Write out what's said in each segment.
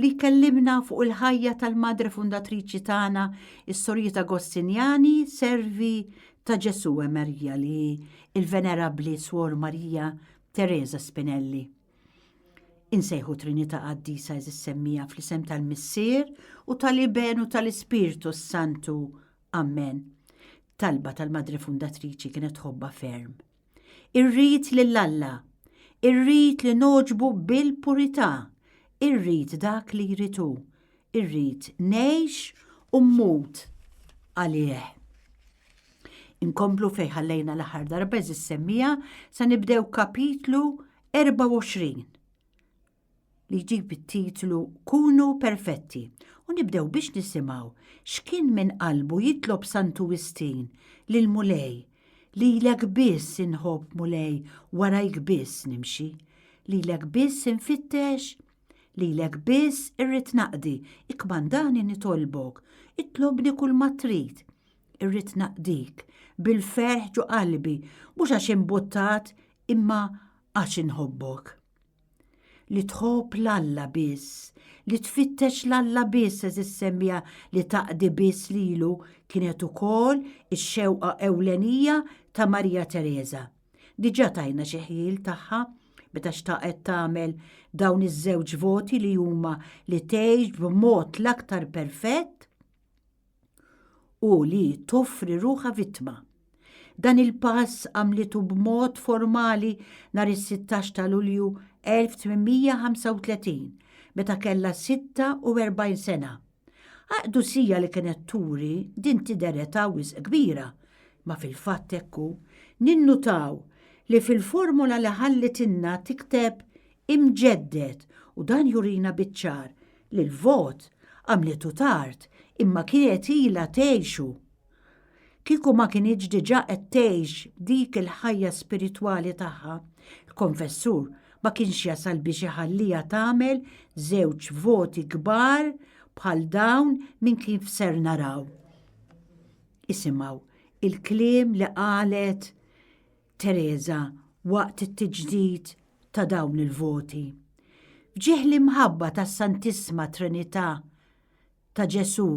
li jkellimna fuq il-ħajja tal-Madre Fundatriċi tagħna, is-Sorjiet Agostinjani, servi ta' Ġesù e Marija li il-Venerabbli Swor Marija Teresa Spinelli. Insejħu Trinità Qaddisa eżis semmija fl-isem tal-Missier u tal-Iben u tal-Ispirtu s-Santu. Amen. Talba tal-Madre Fundatriċi kienet ħobba ferm. Irrid lil Alla, irrid li noġbu bil-purità, irrid dak li jrid hu, irrid ngħix u mmut għalih. Inkomplu fejn ħallejna l-aħħar darba eżis semmija sa nibdew kapitlu 24. li jġib it-titlu Kunu Perfetti u nibdew biex nisimgħu x'kien minn qalbu jitlob Santu Wistin lil Mulej lilek biss inħobb Mulej warajk biss nimxi lilek biss infittex lilek biss irrid naqdi ikkmandani nitolbok itlobni kulma trid irrid naqdik bil-ferħ ġo qalbi mhux għax imbuttat imma għax inħobbok. li tħobb l-Alla biss, li tfittex l-Alla biss eż semmija li taqdi biss lilu kienet ukoll ix-xewqa ewlenija ta' Marija Teresa. Diġà tajna xi ħjiel tagħha meta xtaqet tagħmel dawn iż-żewġ voti li huma li tgħix b'mod l-aktar perfett u li toffri ruħha vittma. Dan il-pass għamlitu b'mod formali nhar is-16 ta' Lulju 1835 meta kellha 46 sena. Aqdusija li kienet turi din tidher età wisq kbira, ma fil-fatt hekk hu. Ninnutaw li fil-formola li ħallitilna tikteb imġedded u dan jurina biċ-ċar li l-vot għamlitu tard imma kienet ilha tgħixu. Kieku ma kinitx diġà qed tgħix dik il-ħajja spiritwali tagħha, il-konfessur ma kienx jasal biex iħalliha tagħmel żewġ voti kbar bħal dawn minn kif ser naraw. Isimgħu il-kliem li qalet Teresa waqt it-tiġdid ta' dawn il-voti. F'ġieħ l-imħabba tas-Santissma Trinità, ta' Ġesù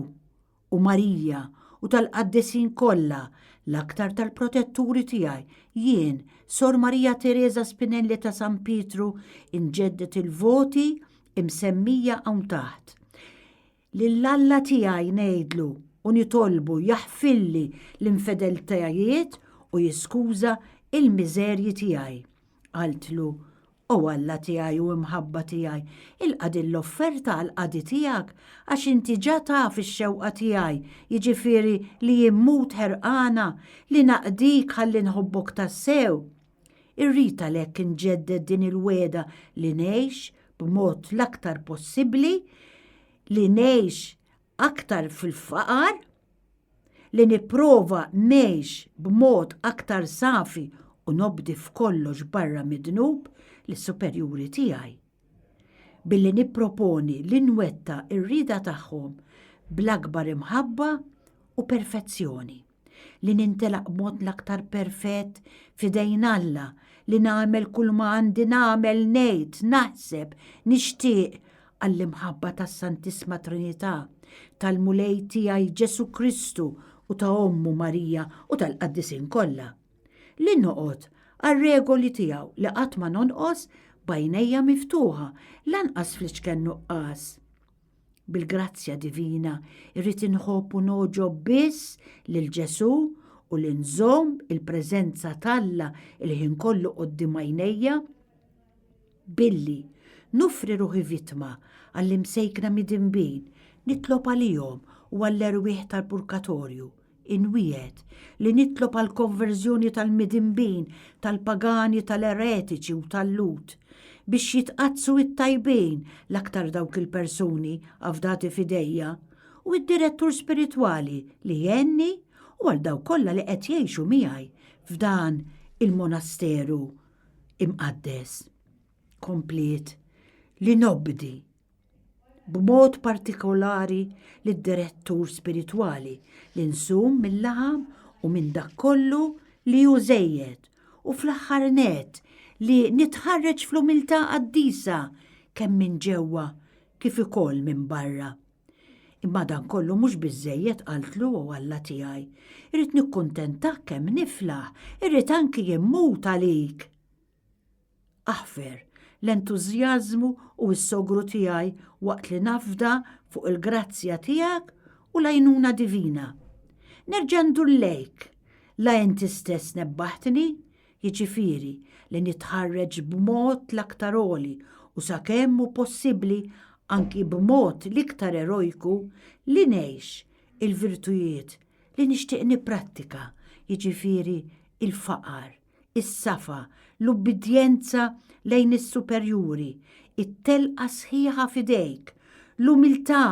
u Marija u tal-qaddisin kollha, l-aktar tal-protetturi tiegħi, jien, Sor Marija Teresa Spinelli ta' San Pietru, inġedded il-voti imsemmija hawn taħt. Lil Alla tiegħi ngħidlu u nitolbu jaħfilli l-infedeltajiet u jiskuża l-miżerji tiegħi. Qaltlu, O Alla tiegħi u Imħabba tiegħi, ilqa' din l-offerta għall-qadi tiegħek, għax inti ġa taf ix-xewqa tiegħi, jiġifieri li jien mmut ħerqana li naqdik ħalli nħobbok tassew, Irrid għalhekk inġedded din il-wegħda li ngħix b'mod l-aktar possibbli, li ngħix aktar fil-faqar, li nipprova ngħix b'mod aktar safi u nobdi f'kollox barra mid-dnub lis-superjuri tiegħi. Billi nipproponi li nwetta r-rieda tagħhom bl-akbar imħabba u perfezzjoni. li nintelaq b'mod l-aktar perfett f'idejn Alla, li nagħmel kull ma għandi nagħmel, ngħid, naħseb, nixtieq għall-imħabba tas-Santisma Trinità, tal-Mulej tiegħi Ġesù Kristu u ta' ommu Marija u tal-qaddisin kollha. Li noqgħod għar-regoli tiegħu li qatt ma nonqos b'għajnejja miftuħa, lanqas fl-iċken nuqqas. Bil-grazzja divina irrid inħobb u noġob biss lil Ġesù u li nżomm il-preżenza t'Alla il-ħin kollu qudiem għajnejja billi nofri ruħi vittma għall-imsejkna midinbin nitlob għalihom u għall-erwieħ tal-purgatorju Inwiegħed li nitlob għal konverżjoni tal-midinbin, tal-pagani, tal-eretiċi u tal-Lhud, biex jitqaddsu t-tajbin, l-aktar dawk il-persuni afdati f'idejja, u d-direttur spiritwali li jgħinni u għal dawk kollha li qed jgħixu miegħi f'dan il-monasteru imqaddes. Kompliet li nobdi b'mod partikolari lid-direttur spiritwali, li nsum mil-laħam u minn dak kollu li hu żejjed, u fl-aħħar nett, li nitħarreġ fl-umiltà qaddisa kemm minn ġewwa kif ukoll minn barra. Imma dan kollu mhux biżżejjed, qaltlu, O Alla tiegħi. Irrid nikkuntentak kemm niflaħ, irrid anki immut għalik. Aħfer l-entużjażmu u s-sogru tiegħi waqt li nafda fuq il-grazzja tiegħek u l-għajnuna divina. Nerġa' ndur lejk, la inti stess nebbaħtni, jiġifieri li nitħarreġ b'mod l-aktar għoli u sakemm hu possibbli anki b'mod l-iktar erojku li ngħix il-virtujiet li nixtieq nipprattika, jiġifieri l-faqar, is-safa, l-ubbidjenza lejn is-superjuri, it-telqa sħiħa f'idejk, l-umiltà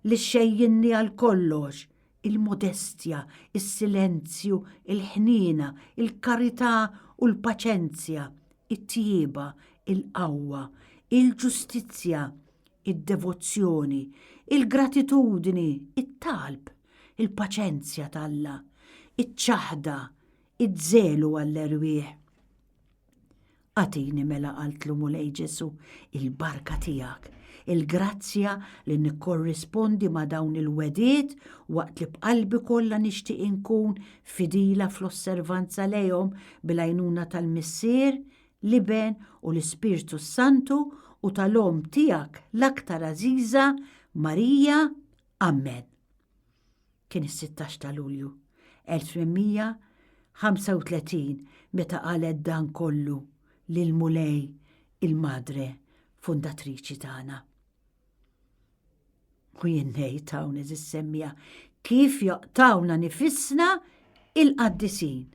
li xxejjinni għal kollox, il-modestja, is-silenzju, il-ħniena, il-karità u l-paċenzja, it-tjieba, il-qawwa, il-ġustizzja, id-devozzjoni, il-gratitudni, it-talb, il-paċenzja t'Alla, iċ-ċaħda, iż-żelu għall-erwieħ. Agħtini mela qaltlu Mulej Ġesu il-barka tiegħek, il-grazzja li nikkorrispondi ma' dawn il-wegħdiet waqt li b'qalbi kollha nixtieq inkun fidila fl-osservanza lejhom bil-għajnuna tal-Missier, l-Iben u l-Ispirtu s-Santu u tal-Omm tiegħek l-aktar għażiża, Marija. Amen. Kien is-16 ta' Lulju 1835 meta qalet dan kollu lil Mulej il-Madre Fundatriċi tagħna. U jien ngħid hawn eżis semmija kif joqtawna nifissna il-qaddisin.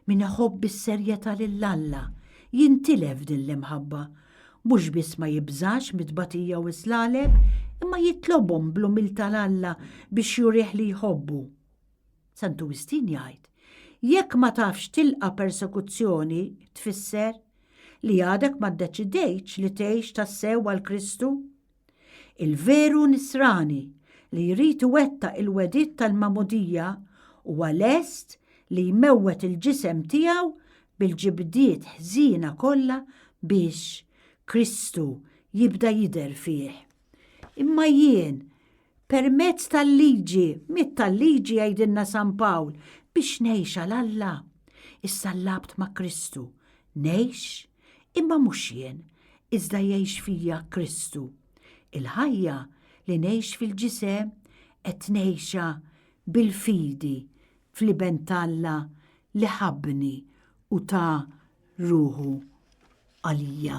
Min iħobb bis-serjetà lil Alla jintilef din l-imħabba, mhux biss ma jibżax mit-tbatija u s-slaleb, imma jitlobhom bl-umiltà 'l Alla biex jurih li jħobbu. Santu Wistin jgħid, Jekk ma tafx tilqa' persekuzzjoni tfisser, li għadek ma ddeċidejtx li tgħix tassew għal Kristu. Il-veru Nisrani li jrid iwettaq il-wegħdiet tal-Magħmudija huwa lest li jmewwet il-ġisem tiegħu bil-ġibdiet ħżiena kollha biex Kristu jibda jidher fih. Imma jien Permezz tal-liġi, mit tal-liġi jgħidilna San Pawl, biex ngħix għal Alla. Issa l-labt ma' Kristu. Ngħix, imma mhux jien, iżda jgħix fija Kristu. Il-ħajja li ngħix fil-ġisem qed ngħixha bil-fidi fl-Iben t'Alla li ħabbni u ta ruħu għalija.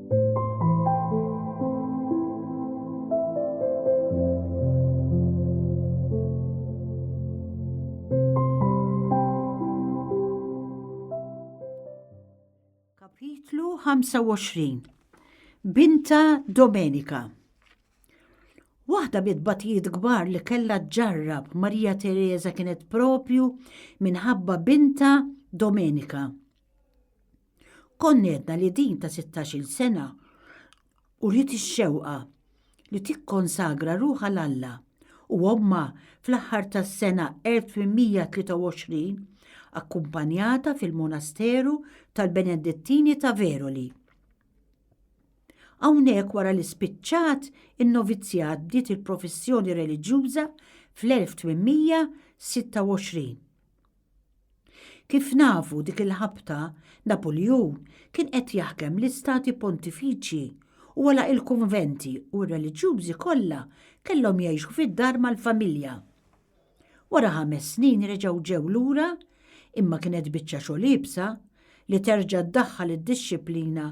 Kapitlu 25 Binta Domenika Waħda bit-batijiet kbar li kellha ġarrab Marija Teresa kienet propju minħabba binta Domenika. Konnedna li din ta' 16-il sena uriet ix-xewqa li tikkonsagra ruħha l Alla u ommha fl-aħħar tas-sena 1823 akkumpanjata fil-monasteru tal-Benedittini ta' Veroli. Hawnhekk wara li spiċċat in-novizjat bdiet il-professjoni reliġjuża fl-1826. Kif nafu dik il-ħabta, Napuljun kien qed jaħkem l-istati pontifiċji u għalaq il-kunventi u r-reliġjużi kollha kellhom jgħixu fid-dar mal-familja. Wara ħames snin reġgħu ġew lura imma kienet biċċa xogħol iebsa li terġa' ddaħħal id-dixxiplina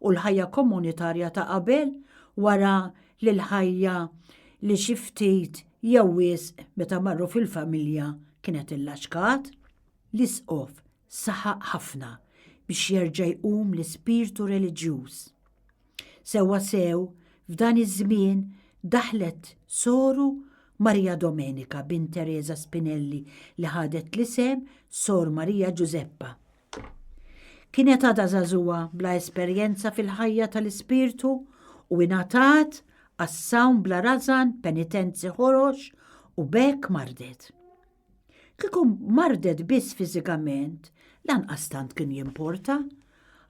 u l-ħajja komunitarja ta' qabel wara li l-ħajja li xi ftit Jew wisq meta marru fil-familja kien qed illaċkat? L-Isqof saħaq ħafna biex jerġa' jqum l-ispirtu reliġjuż. Sewwasew f'dan iż-żmien daħlet soru Maria Domenica bint Teresa Spinelli li ħadet l-isem Sor Maria Ġużeppa. Kienet għadha żagħżugħa bla esperjenza fil-ħajja tal-ispirtu u ingħatat għas-sawm bla rażan penitenzi ħorox u b'hekk mardet. Kieku mardet biss fiżikament, lanqas tant kien jimporta,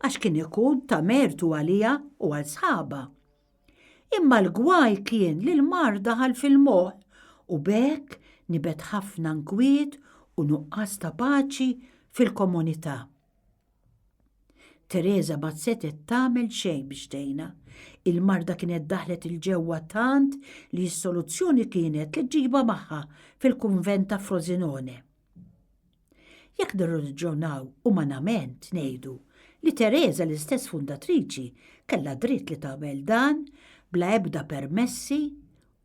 għax kien ikun ta' mertu għaliha u għal sħabha. Imma l-gwaj kien li l-mard daħal fil-moħħ u b'hekk nibet ħafna nkwiet u nuqqas ta' paċi fil-komunità. Teresa ma setgħet tagħmel xejn biex tgħinha. Il-marda kienet daħlet il ġewwa tant li s-soluzzjoni kienet li ġġibha magħha fil-kunvent ta' Frosinone. Jekk nirraġunaw umanament ngħidu li Tereża l-istess fundatriċi kellha dritt li tagħmel dan bla ebda permessi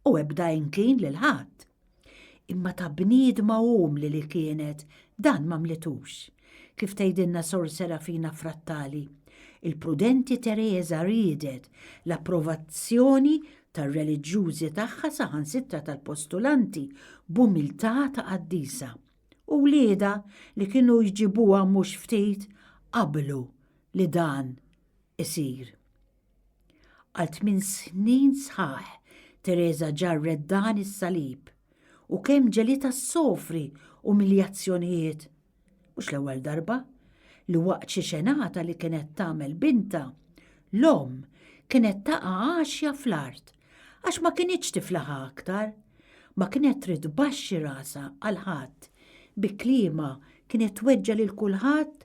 u ebda inklin lil ħadd. Imma ta' bniedma umli li kienet dan m'għamlitux. Kif tgħidilna Sor Serafina Frattali, il-prudenti Tereża riedet l-approvazzjoni tar-reliġjużi tagħha saħansitra tal-postulanti b'umiltà ta' qaddisa, u wliedha li kienu jġibuha mhux ftit qablu li dan isir. Għal tmien snin sħaħ Tereża ġarret dan is-salib u kemm ġelitha ssofri umiljazzjonijiet Mhux l-ewwel darba li waqt xi xenata li kienet tagħmel bintha, l-omm kienet taqa' għaxja fl-art għax ma kinitx tiflaħha aktar, ma kienet trid tbaxxi rasha għal ħadd, bi kliemha kienet tweġġa' lil kulħadd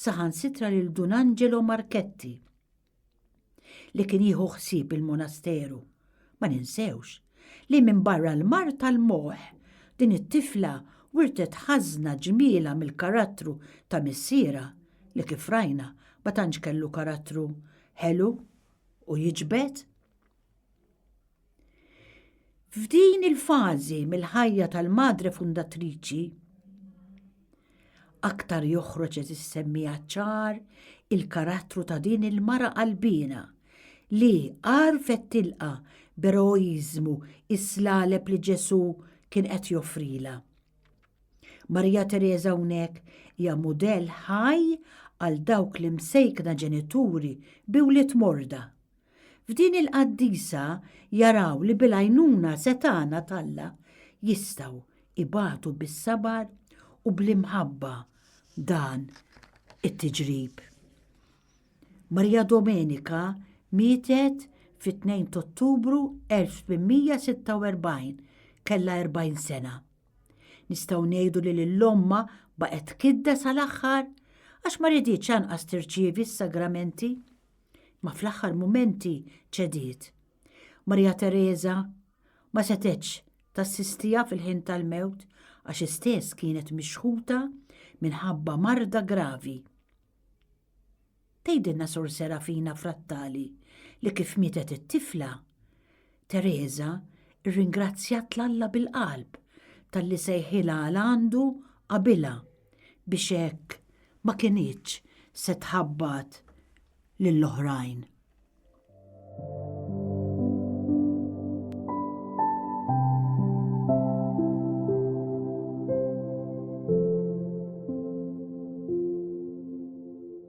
saħansitra lil Dun Angelo Marchetti. li kien jieħu ħsieb il-monasteru. Ma ninsewx li minn barra l-mar tal-moħ din it-tifla wirtet ħażna ġmiela mill-karattru ta' missiera li kif rajna ma tantx kellu karattru ħelu u jiġbed. F'din il-fażi mill-ħajja tal-Madre Fundatriċi, aktar joħroġ eżis semmija ċar il-karattru ta' din il-mara qalbina li għarfet tilqa b'eroiżmu is-slaleb li Ġesù kien qed joffrila. Marija Teresa hawnhekk hija mudell ħaj għal dawk li msejkna ġenituri bi wlied morda F'din il-qaddisa jaraw li bil-għajnuna setgħana t'Alla jistgħu ibatu bis-sabar u bl-imħabba dan it-tiġrib. Marija Domenika mietet fit-2 t'Ottubru 1846, kellha 40 sena. Nistgħu ngħidu li lill-omma baqgħet kidda sal-aħħar għax ma riditx anqas tirċievi s-sagramenti. Ma fl-aħħar mumenti ċediet. Marija Tereża ma setgħetx tassistiha fil-ħin tal-mewt għax hi stess kienet mixħuta minħabba marda gravi. Tgħidilna Sor Serafina Frattali li kif mietet it-tifla, Teresa rringrazzjat 'l Alla bil-qalb talli sejħilha għal għandu qabilha biex hekk ma kinitx se tħabbat lill-oħrajn.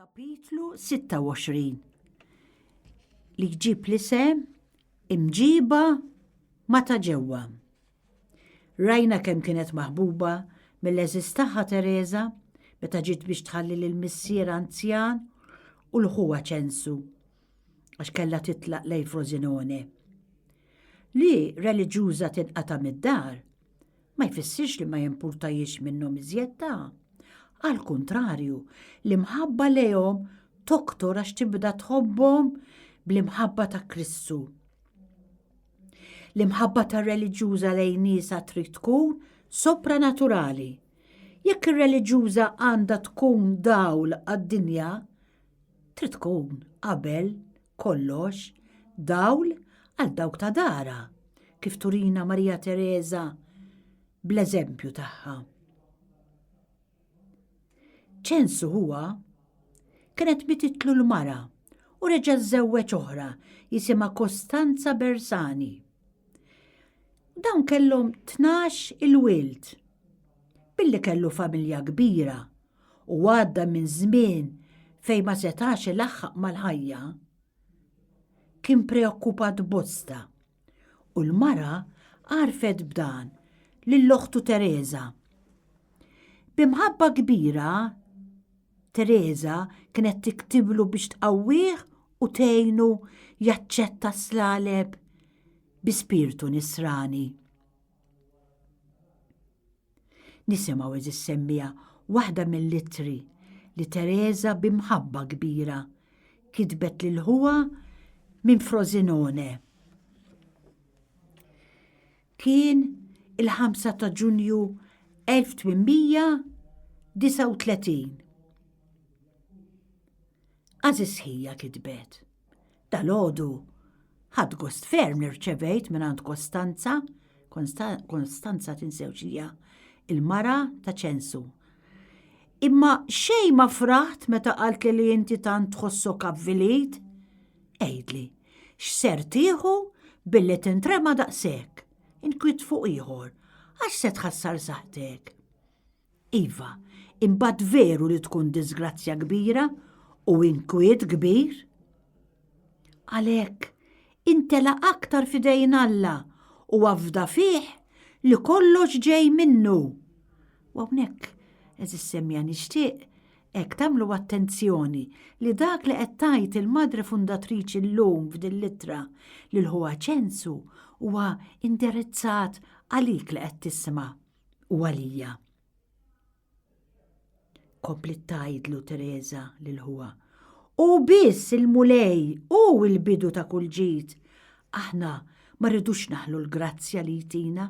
Kapitlu 26 li jġib l-isem imġiba ma ta' ġewwa. Rajna kemm kienet maħbuba mill-eżis tagħha Teresa meta ġiet biex tħalli lil missier anzjan u l-ħuwa ċensu għax kellha titlaq lejn Frosinone. Li reliġjuża tinqata' mid-dar ma jfissirx li ma jimpurtajiex minnhom iżjed ta' għal kuntrarju li mħabba lejhom toktor għax tibda tħobbhom bl-imħabba ta' Kristu. L-imħabba ta' reliġjuża lejn nisa trid tkun sopranaturali. Jekk ir-reliġjuża għandha tkun dawl għad-dinja, trid tkun qabel kollox, dawl għal dawk ta' darha, kif turina Marija Tereża bl-eżempju tagħha. Ċensu huwa kienet mititlu l-mara u reġa' żewweġ oħra jisimha Kostanza Bersani. Dawn kellhom tnax il-wild. Billi kellu familja kbira u għadda minn żmien fejn ma setax ilaħħaq mal-ħajja, kien preokkupat bosta u l-mara għarfet b'dan lil oħtu Teresa. B'imħabba kbira, Teresa kienet tiktiblu biex tqawwih u tgħinu jaċċetta s-slaleb bi spirtu nisrani. Nisimgħu eżis semmiegħa waħda mill-ittri li Tereża bi mħabba kbira kitbet lil ħuha minn Frosinone. Kien il-5 ta' Ġunju 1839. Għażiż ħija kitbet. Dalgħodu ħadt gost ferm li rċevejt mingħand Kostanza, Kostanza tinsewx hija il-mara ta' ċensu. Imma xejn ma fraħt meta qalt li inti tant tħossok avvilit. Għidli, x'ser tieħu billi tintrema daqshekk, inkwiet fuq ieħor, għax se tħassar saħtek. Iva, imbagħad veru li tkun diżgrazzja kbira u inkwiet kbir. Għalhekk, intela aktar fidejn Alla u afda fih li kollox ġej minnu. U hawnhekk, eżis semmija nixtieq hekk tagħmlu attenzjoni li dak li qed tgħid il-Madre Fundatriċi llum f'din l-ittra lil ħuha Ċensu huwa indirizzat għalik li qed tisma'. u għalija. Komplet tajdlu Teresa lil huwa. U biss il-mulej u il-bidu ta' kull ġid. Aħna ma rridux naħlu l-grazzja li jtina.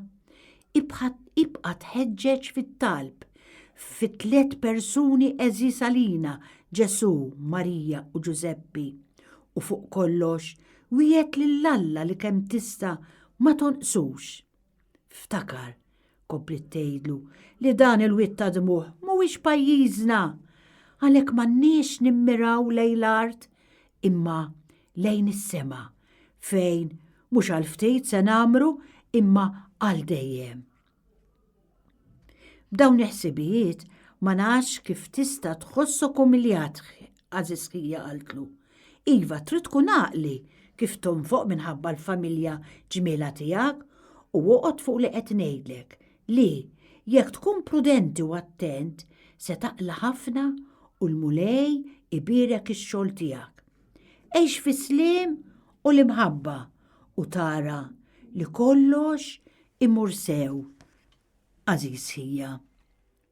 Ibqa tħeġġeġ fit-talb fit tliet persuni eżis għalina, Ġesu, Marija u Ġużeppi. U fuq kollox, wiegħed lil Alla li kemm tista' ma tonqsux. Ftakar, kompliet tgħidlu, li dan il-wied ta' dmugħ mhuwiex pajjiżna. Għalhekk m'għandniex nimmiraw lejn l-art imma lejn is-sema fejn mhux għal ftit se nagħmru imma għal dejjem. B'dawn il-ħsibijiet ma nafx kif tista' tħossok umiljat Għażiżkija qaltlu, Iva trid tkun għaqli kif tonfoq minħabba l-familja ġmielha tiegħek u oqgħod fuq li qed ngħidlek li, jekk tkun prudenti u attent, se taqla' ħafna u l-Mulej ibierek ix-xogħol tiegħek. Għix fis-sliem u l-imħabba u tara li kollox imur sew, għażiżkija.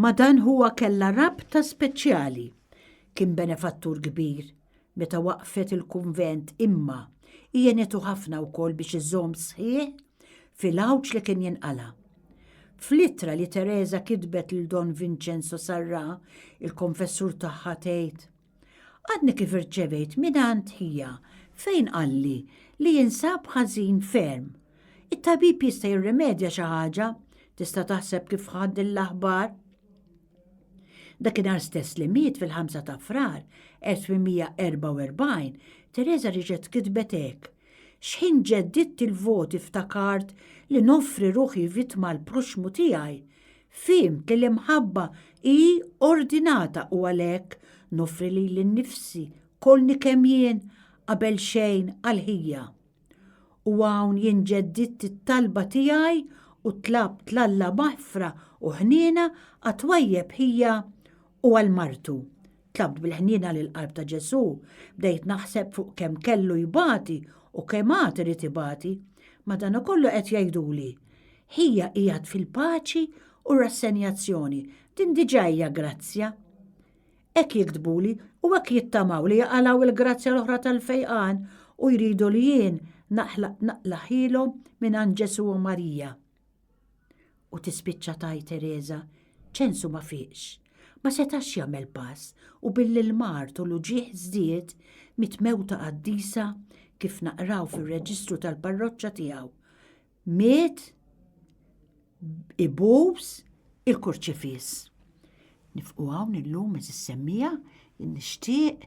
Ma' dan ħuha kellha rabta speċjali. Kien benefattur kbir meta waqqfet il-kunvent imma hi għenetu ħafna wkoll biex iżomm sħiħ fil-għawġ li kien jinqala'. Fl-ittra li Tereża kitbet lil Don Vincenzo Sarrà, il-konfessur tagħha tgħid, Għadni kif irċevejt mingħand ħija fejn qalli li jinsab ħażin ferm. It-tabib jista' jirrimedja xi ħaġa, tista' taħseb kif ħadd din l-aħbar? Dakinhar stess li miet fil-5 ta' Frar 1844, Teresa riġet kitbet hekk. Xħin ġedditt il-voti ftakart li noffri ruħi vittma l-proxmu tiegħi Fhimt li l-imħabba hi ordinata u għalhekk noffri lili nnifsi kollni kemm jien qabel xejn għall-ħija. U hawn jien ġeddidt it-talba tiegħi u tlabt 'l Alla maħfra u ħniena għat-twajjeb ħija u għal martu, Tlabt bil-ħniena lill-qalb ta' Ġesù, bdejt naħseb fuq kemm kellu jbati u kemm għad irid ibati. Madankollu qed jgħiduli, ħija qiegħed fil-paċi u rassenjazzjoni, din diġà hija grazzja. Hekk jiktbuli u hekk jittamaw li jaqalgħu il-grazzja l-oħra tal-fejqan u jridu li jien naqlaħilhom mingħand Ġesù u Marija. U tispiċċa tgħid Tereża, ċensu ma fiqx, ma setax jagħmel pass u billi l-mard u l-uġigħ żdied mit mewta qaddisa kif naqraw fir-reġistru tal-parroċċa tiegħu. Miet ibuż il-kurċifiss. Nifqu hawn illum eżis semmija nixtieq